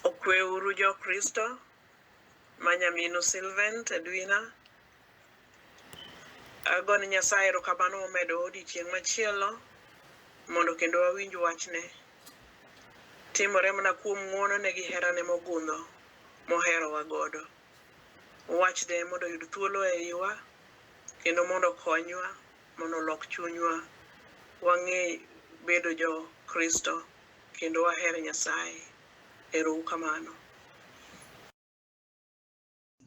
Okweuru Jokristo ma nyaminu Sylvain Tedwina. Ago ne Nyasaye erokamano momedo odiechieng' machielo mondo kendo wawinj wachne. Timore mana kuom ng'wonone gi herane mogundho moherowa godo. Wachne mondo oyud thuolo e iwa kendo mondo okonywa mondo olok chunywa wang'e bedo Jokristo kendo waher Nyasaye. Ero u kamano.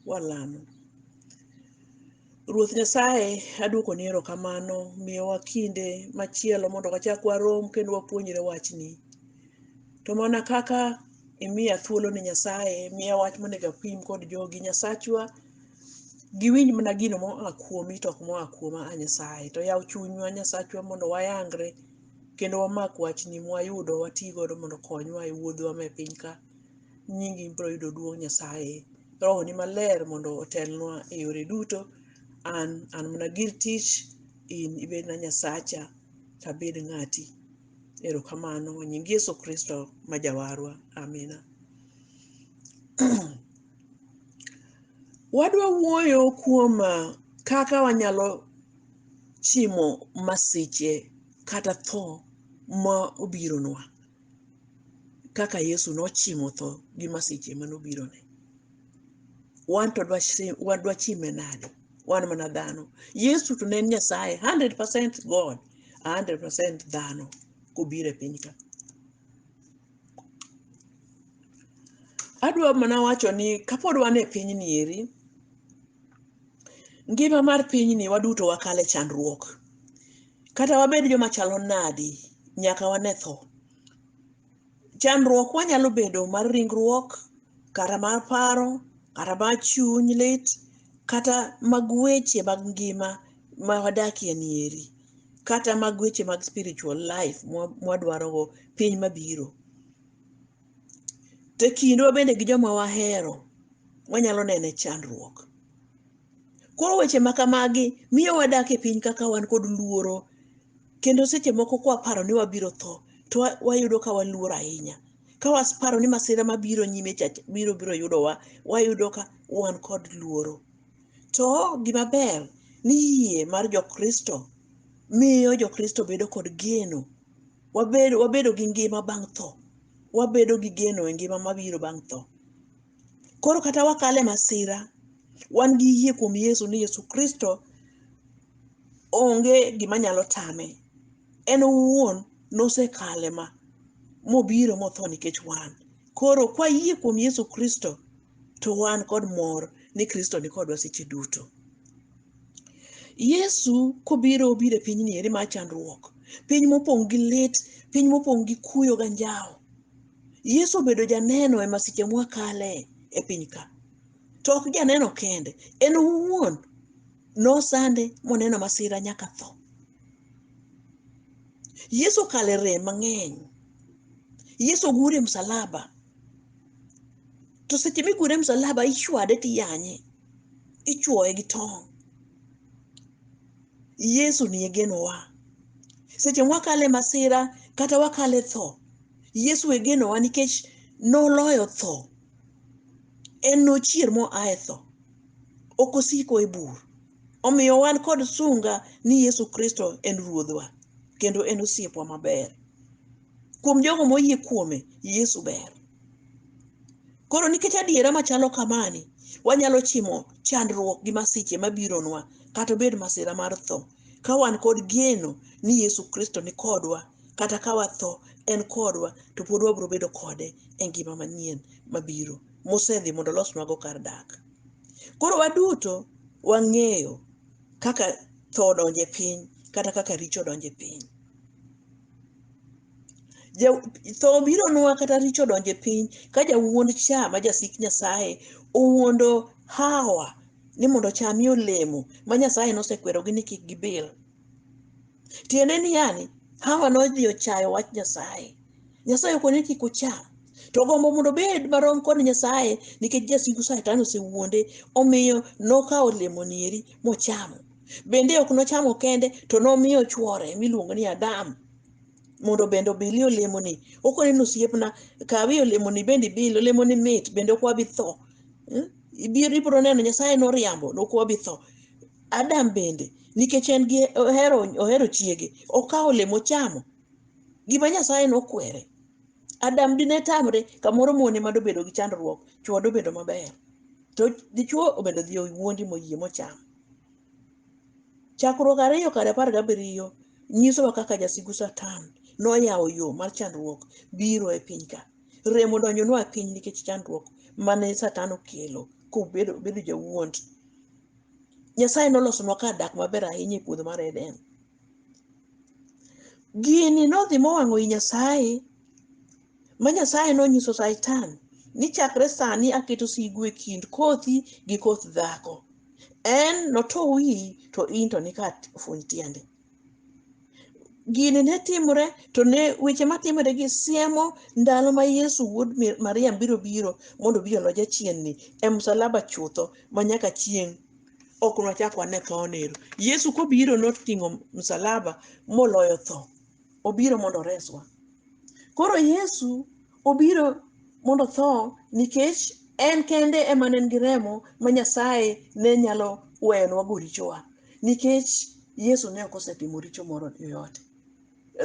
Walamo. Ruoth Nyasaye, aduoko ni erokamano miyowa kinde machielo mondo wachak warom kendo wapuonjre wachni. To mana kaka imiya thuolo ni Nyasaye, miya wach monego apim kod jogi. Nyasachwa, giwinj mana gino moa kuomi to ok moa kuoma a Nyasaye. To yaw chunywa Nyasachwa mondo wayangre. kendo wamak wachni mwayudo wati godo mondo okonywa e wuodhwa me piny ka nyingi biro yudo duong' nyasaye rohoni maler mondo otelnwa e yore duto an an mana gir tich in ibedna nyasacha tabed ng'ati erokamano nying yesu kristo ma jawarwa amina wadwa wuoyo kuom ah, kaka wanyalo chimo masiche kata tho ma obironwa kaka Yesu nochimo tho gi masiche mane obirone. Wan to dwachime nade? Wan mana dhano. Yesu to ne en Nyasaye 100% God, 100% dhano kobiro e piny ka. adwa mana wacho ni kapod wan e piny ni eri ngima mar piny ni waduto wakale chandruok kata wabed joma chalo nadi nyaka wane tho chandruok wanyalo bedo mar ringruok kata mar paro kata mar chuny lit kata mag weche mag ngima ma wadakie ni eri kata mag weche mag spiritual life mwadwarogo piny mabiro to e kindwa bende gi joma wahero wanyalo nene chandruok koro weche ma kamagi miyo wadak e piny kaka wan kod luoro kendo seche moko kwaparo ni wabiro tho to wa- wayudo ka waluor ahinya ka waparo ni masira mabiro nyime cha biro biro yudowa wayudo ka wan kod luoro to gima ber ni yie mar jokristo miyo jokristo bedo kod geno wabedo wabedo gi ngima bang' tho wabedo gi geno e ngima mabiro bang' tho koro kata wakale masira wan gi yie kuom yesu ni yesu kristo onge gima nyalo tame en owuon nosekale ma mobiro motho nikech wan koro kwayie kuom yesu kristo to wan kod mor ni kristo nikodwa seche duto Yesu kobiro obiro e pinyni eri mar chandruok, piny mopong' gi lit, piny mopong' gi kuyo ga njawo. Yesu obedo janeno e masiche mwakale e piny ka. To ok janeno kende, en owuon nosande moneno masira nyaka tho. Yesu okale rem mang'eny. Yesu ogure msalaba. to seche migure e msalaba ichwade tiyanye ichuoye gi tong' yesu ni e genowa seche mwakale masira kata wakale tho yesu e genowa nikech noloyo tho en nochier moa e tho ok osiko e bur omiyo wan kod sunga ni yesu kristo en ruodhwa kendo en osiepwa maber kuom jogo moyie kuome yesu ber koro nikech adiera machalo kamani wanyalo chimo chandruok gi masiche mabironwa kata obed masira mar tho ka wan kod geno ni yesu kristo ni kodwa kata ka watho en kodwa to pod wabiro bedo kode e ngima manyien mabiro mosedhi mondo olosnwago kar dak koro waduto wang'eyo kaka tho odonje piny kata kaka richo odonje piny Ja- tho bironwa kata richo donje piny ka jawuond cha ma jasik nyasaye owuondo hawa ni mondo chamie olemo ma nyasaye nosekwerogi ni kik gibil tiende ni yani hawa nodhi ochayo wach nyasaye nyasaye okone kik ocham to gombo mondo obed marom kod nyasaye nikech jasigu satan osewuonde omiyo nokawo olemoni eri mochamo bende ok nochamo kende to nomiyo chwore miluongo ni adam mondo bende obilie olemoni okone ni osiepna kawi olemoni bende ibil olemoni mit bende ok wabi tho Hmm? ibiro ibiro neno nyasaye noriambo ne ok wabi tho adam bende nikech en gi ohero ohero chiege okawo olemo ochamo gima nyasaye nokwere adam dine tamre kamoro mone ma dobedo gi chandruok chwo dobedo maber to dichwo obedo dhi owuondi moyie mocham Chakruok ariyo kar apar gabiriyo nyisowa kaka jasigu Satan noyawo yo mar chandruok biro e piny ka. Rem odonjonwa e piny nikech chandruok mane Satan okelo kobedo bedo jawuond. Nyasaye nolosonwa kar dak maber ahinya e puodho mar Eden. Gini nodhi mowang'o i Nyasaye ma Nyasaye nonyiso Satan ni chakre sani aketo sigu e kind kothi gi koth dhako. En noto wiyi to in to nika funy tiende. Gini ne timore to ne weche matimore gi siemo ndalo ma Yesu wuod Mi- Maria biro biro mondo obi olo jachienni e msalaba chutho ma nyaka chieng' ok nwachak wane thone ero. Yesu kobiro noting'o msalaba moloyo tho. obiro mondo oreswa. Koro Yesu obiro mondo otho nikech en kende ema ne en gi remo ma Nyasaye ne nyalo weyonwago richowa nikech Yesu ne ok osetimo richo moro yoyote.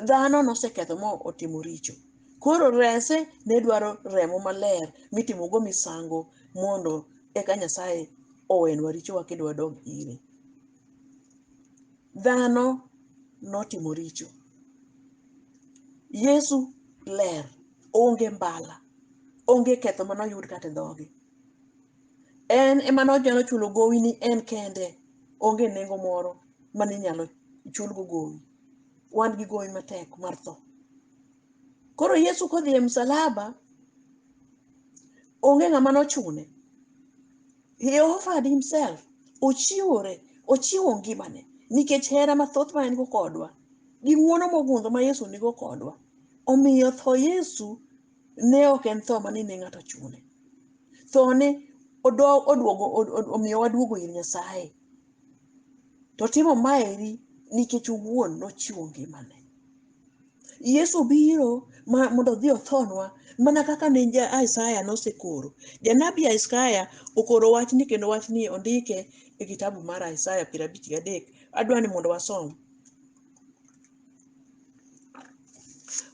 Dhano noseketho ma otimo richo. Koro rese ne dwaro remo maler mitimogo misango mondo eka Nyasaye owenwa richowa kendo wadog ire. dhano notimo richo yesu ler onge mbala onge ketho mane oyud kata e dhoge en ema nonyalo chulo gowi ni en kende onge nengo moro mane inyalo chulgo gowi wan gi gowi matek mar tho koro yesu kodhi e msalaba onge ng'ama nochune He offered himself. Ochiwore, ochiwo ngimane nikech hera mathoth ma en go kodwa gi ng'wono mogundho ma Yesu nigo kodwa. Omiyo tho Yesu ne ok en tho ma ni ne ng'ato chune. Thone odo- oduogo od- od- omiyo waduogo ir Nyasaye. To timo maeri nikech owuon nochiwo ngimane. Yesu biro ma- mondo odhi othonwa mana kaka ne ja Isaya nosekoro. Janabi Isaya okoro wachni kendo wachni ondike e kitabu mar Isaya piero abich gadek. Adwa ni mondo wasom.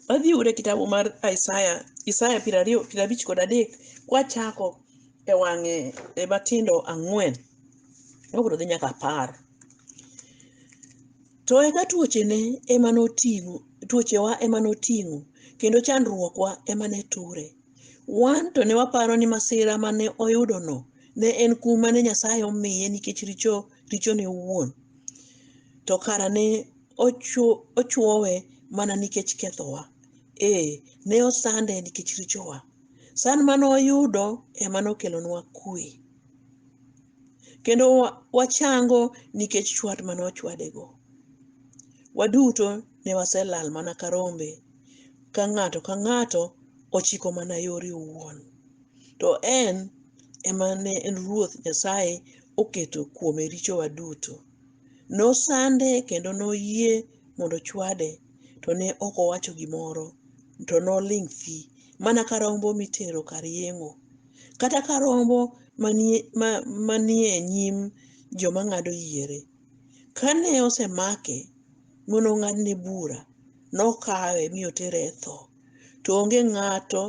Wadhi ure kitabu mar Isaya, Isaya piero ariyo piero abich kod adek kwachako e wang'e e matindo ang'wen. Wabiro dhi nyaka apar. To eka tuochene ema noting'o, tuochewa ema noting'o, kendo chandruokwa ema ne ture. Wan to ne waparo ni masira mane oyudono ne en kum mane Nyasaye omiye nikech richo richone owuon. To kara ne ochu- ochuowe mana nikech kethowa. Ee, ne osande nikech richowa. San mane oyudo ema nokelonwa kue. kendo wachango nikech chwat mane ochwadego. Waduto ne waselal mana ka rombe, ka ng'ato ka ng'ato ochiko mana yore owuon. To en ema ne en Ruoth Nyasaye oketo kuome richowa duto. Nosande kendo noyie mondo ochwade, to ne ok owacho gimoro, to noling' thi, mana ka rombo mitero kar yeng'o. kata ka rombo manie, ma, manie nyim joma ng'ado yiere. Kane osemake mondo ong'adne bura, nokawe mi otere e tho. To onge ng'ato,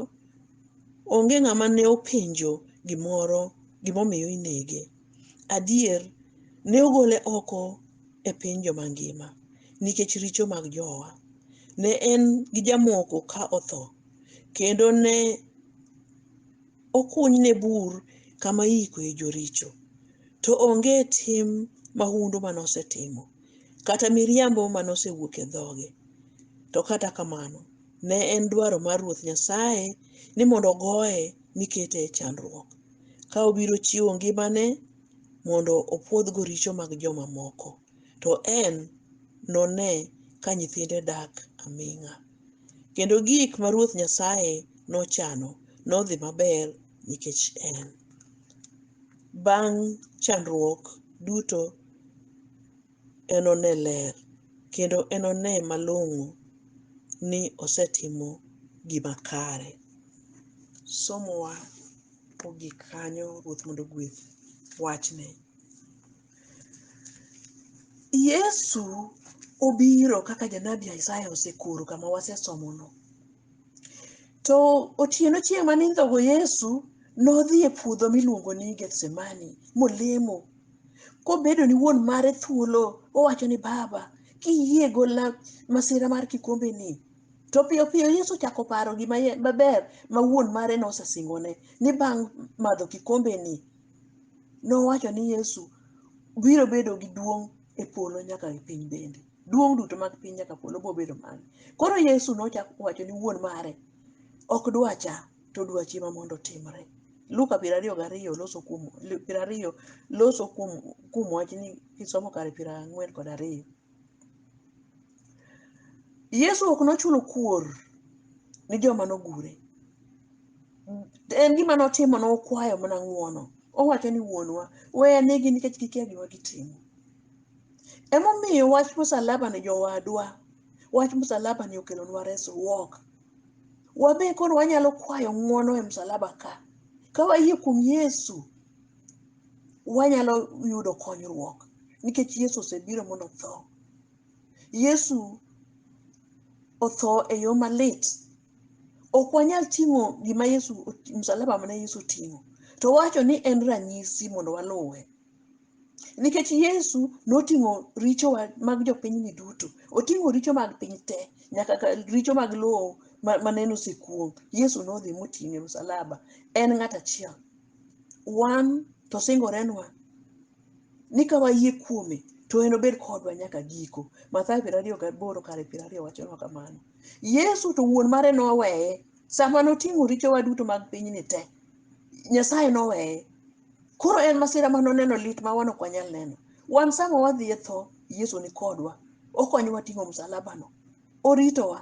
onge ng'ama ne openjo gimoro gimomiyo inege. Adier, ne ogole oko e piny joma ngima nikech richo mag jowa. Ne en gi jamoko ka otho, kendo ne okunyne bur kama iikoe joricho, to onge tim mahundu ma nosetimo, kata miriambo ma nosewuok e dhoge. To kata kamano, ne en dwaro mar Ruoth Nyasaye ni mondo ogoye mi kete e chandruok, ka obiro chiwo ngimane mondo opwodhgo richo mag jomamoko, to en none ka nyithinde dak aming'a. kendo gik ma Ruoth Nyasaye nochano nodhi maber nikech en. Bang' chandruok duto enone ler kendo enone malong'o ni osetimo gima kare. Somowa ogik kanyo Ruoth mondo ogwedh wachne. Yesu obiro kaka janabi Isaya osekoro kama wasesomono. To otieno chieng' ma nindhogo Yesu nodhi e puodho miluongo ni Gethsemane molemo kobedo ni wuon mare thuolo owacho ni baba kiyie gola masira mar kikombe ni to piyo piyo Yesu chako paro gima ye- maber ma wuon mare nosesingone ni bang' madho kikombe ni nowacho ni Yesu biro bedo gi duong' e polo nyaka e piny bende. Duong' duto mag piny nyaka polo biro bedo mare. Koro Yesu nochako owacho ni wuon mare ok dwacha to dwachi ema mondo otimre. Luka piero ariyo gariyo loso kuom piero ariyo loso kuom kuom wachni kisomo kare piero ang'wen kod ariyo. Yesu ok nochulo kuor ni joma nogure. En gima notimo nokwayo mana ng'uono. Owacho ni wuonwa, we anegi nikech gikia gima gitimo. Emomiyo wach msalaba ni jowadwa, wach msalaba ni okelonwa resruok. Wabe koro wanyalo kwayo ng'uono e msalaba ka. Ka wayie kuom Yesu, wanyalo yudo konyruok nikech Yesu osebiro mondo otho. Yesu otho e yo malit. Ok wanyal ting'o gima Yesu msalaba mane Yesu oting'o. To wacho ni en ranyisi mondo waluwe. Nikech Yesu noting'o richo wa- mag jopinyni duto. Oting'o richo mag piny te, nyaka ka- richo mag lowo ma- maneno osekuong'. Yesu nodhi moting'o e msalaba. En ng'at achiel. wan to singorenwa ni ka wayie kuome to enobed kodwa nyaka giko. Mathayo piero ariyo gaboro kare piero ariyo wachonwa kamano. Yesu to wuon mare noweye sama noting'o richowa duto mag pinyni te. Nyasaye noweye. Koro en masira ma noneno lit ma wan ok wanyal neno. Wan sama wadhi e tho, Yesu ni kodwa. Okonyowa ting'o msalabano. oritowa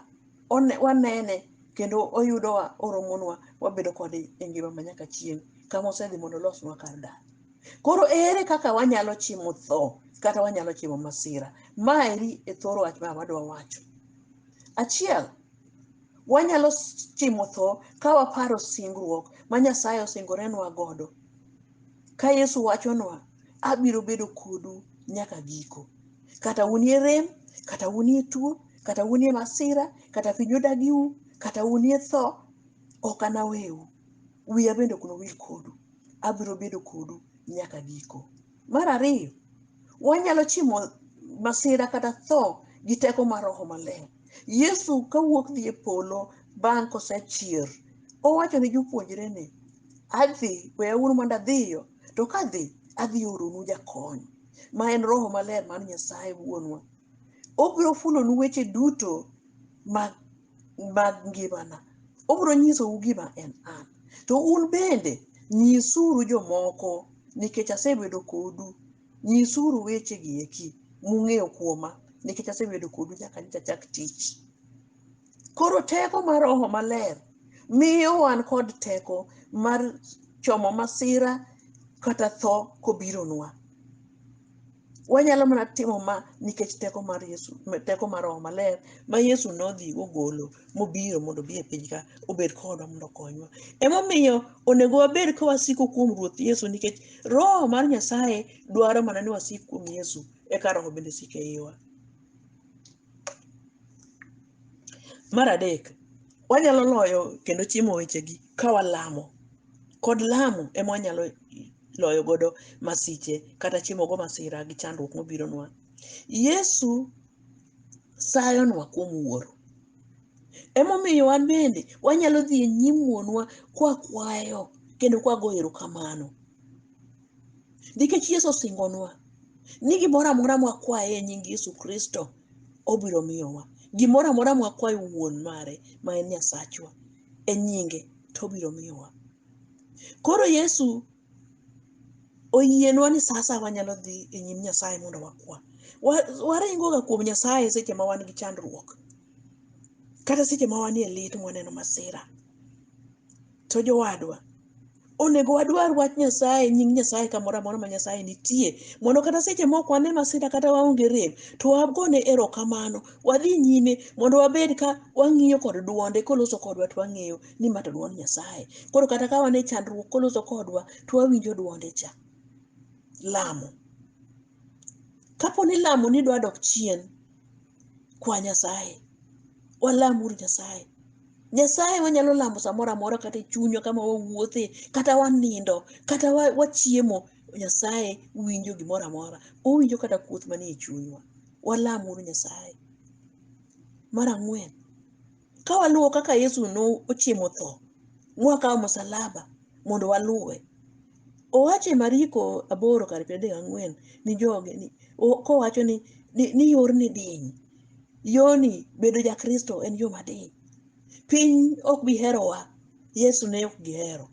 one- wanene kendo oyudowa oromonwa wabedo kode e ngima ma nyaka chieng' kama osedhi mondo olosnwa kar dak koro ere kaka wanyalo chimo tho kata wanyalo chimo masira maeri e thor wach ma wadwa wacho achiel wanyalo s- chimo tho ka waparo singruok ma nyasaye osingorenwa godo Ka Yesu wachonwa, abiro bedo kodu nyaka giko. Kata unie rem, kata unie tuo, kata unie masira, kata piny odagiu, kata unie tho, ok anaweu. Wiya bende ok nowil kodu. Abiro bedo kodu nyaka giko. Mar ariyo, wanyalo chimo masira kata tho gi teko mar Roho Maler. Yesu kawuok dhi e polo bang' kosechier, owacho ne jopuonjrene, Adhi, weyauru mondo adhiyo, to kadhi, adhi oronu jakony, ma en Roho Maler mar Nyasaye Wuonwa. Obiro fulonu weche duto mag, mag ngimana. Obiro nyisou gima en an. To un bende nyisuru jomoko, nikech asebedo kodu. Nyisuru wechegi eki mung'eyo kuoma, nikech asebedo kodu nyaka nyocha chak tich. koro teko mar roho maler miyo wan kod teko mar chomo masira kata tho kobironwa wanyalo mana timo ma nikech teko mar yesu teko mar roho maler ma yesu nodhi ogolo mobiro mondo obi e piny ka obed kodwa mondo okonywa emomiyo onego wabed ka wasiko kuom ruoth yesu nikech roho mar nyasaye dwaro mana ni wasik kuom yesu eka roho bende sik e iwa Mar adek, wanyalo loyo kendo chiemo wechegi ka walamo. Kod lamo ema wanyalo loyo godo masiche kata chiemo go masira gi chandruok mobironwa. Yesu sayonwa kuom wuoro. Emomiyo wan bende wanyalo dhi e nyim wuonwa kwakwayo kendo kwagoyo erokamano. nikech yesu osingonwa ni gimoro amora mwakwaye e nying yesu kristo obiro miyowa gimoro amora mwakwaye wuon mare ma en nyasachwa e nyinge to obiro miyowa koro yesu oyienwa ni saa saa wanyalo dhi e nyim nyasaye mondo wakwa Wa- waringoga kuom nyasaye seche ma wan gi chandruok kata seche ma wanie lit mwaneno masira To jowadwa, onego wadwar wach Nyasaye, nying Nyasaye kamoro amora ma Nyasaye nitie, mondo kata seche mok wane masira kata waonge rem, to wagone erokamano, wadhi nyime mondo wabed ka wang'iyo kod dwonde koloso kodwa to wang'eyo ni ma to dwond Nyasaye. Koro kata ka wan e chandruok koloso kodwa to wawinjo dwonde cha. Lamo. Kapo ni lamo ni dwa dok chien, kwa Nyasaye. Walamuru Nyasaye. Nyasaye wanyalo lamo samoro amora kata e chunywa kama wawuothe, kata wanindo, kata wa- wachiemo. Nyasaye winjo gimoro amora. Owinjo kata kuoth manie chunywa. Walam uru Nyasaye. Mar ang'wen, ka waluwo kaka Yesu nochiemo tho, mwakawo msalaba mondo waluwe. Owache Mariko aboro kar piero adek gang'wen ni joge ni o- kowacho ni, ni, ni yorni diny yoni bedo jakristo en yo madiny piny ok bi herowa yesu ne ok gihero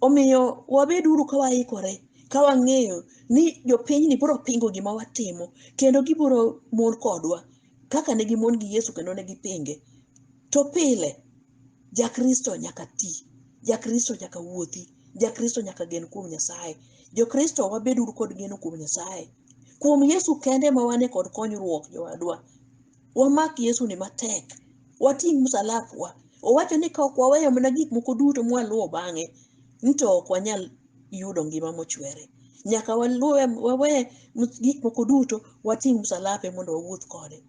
omiyo wabed uru ka waikore ka wang'eyo ni jopinyni biro pingo gima watimo kendo gibiro mon kodwa kaka ne gimon gi yesu kendo ne gipinge to pile jakristo nyaka ti jakristo nyaka wuothi Jakristo nyaka gen kuom Nyasaye. Jokristo wabed uru kod geno kuom Nyasaye. Kuom Yesu kende ma wane kod konyruok jowadwa. Wamak Yesu ni matek. Wating' msalapwa. Owacho ni ka ok waweyo mana gik moko duto mwaluwo bang'e, ni to ok wanyal yudo ngima mochwere. Nyaka waluwe wawe mus- gik moko duto wating' msalape mondo wawuoth kode.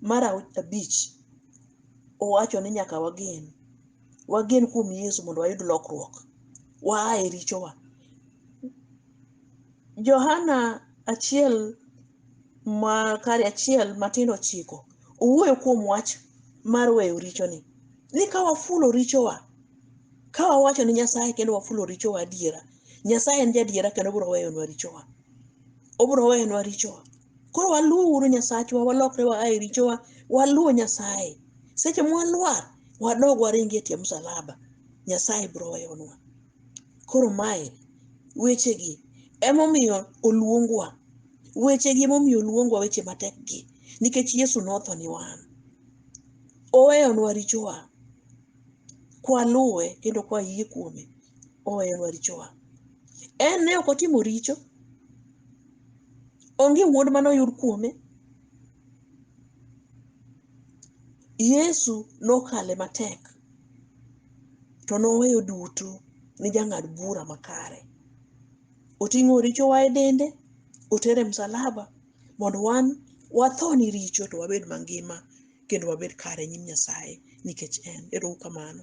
Mar au- abich, owacho ni nyaka wagen wagen kuom yesu mondo wayud lokruok waa e richowa johana achiel ma kare achiel matindo chiko owuoyo kuom wach mar weyo richoni ni ka wafulo richowa ka wawacho ni nyasaye kendo wafulo richowa adiera nyasaye en jadiera kendo obiro weyonwa richowa obiro weyonwa richowa koro waluw uru nyasachwa walokre wa ae richowa waluw nyasaye seche mwalwar wadog waringi e tie msalaba nyasaye biro weyonwa koro mae wechegi emomiyo oluongwa wechegi emomiyo oluongwa weche matek gi nikech yesu notho ni wan oweyonwa richowa kwaluwe kendo kwayie kuome oweyonwa richowa en ne ok otimo richo onge wuond mane oyud kuome yesu nokale matek to noweyo duto ni jang'ad bura makare oting'o richowa e dende otere msalaba mondo wan watho ni richo to wabed mangima kendo wabed kare e nyim nyasaye nikech en ero uru kamano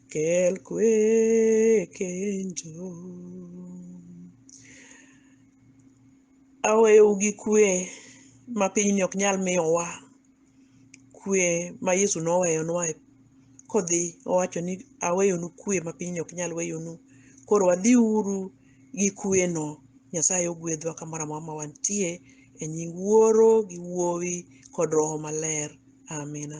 Kel kwe kenjo. Aweyou gi kwe ma pinyni ok nyal miyowa. Kwe ma Yesu noweyonwa e- kodhi owacho ni aweyonu kwe ma pinyni ok nyal weyonu. Koro wadhiuru gi kweno. Nyasaye ogwedhwa kamoro amora ma wantie e nying Wuoro gi Wuowi kod Roho Maler. Amina.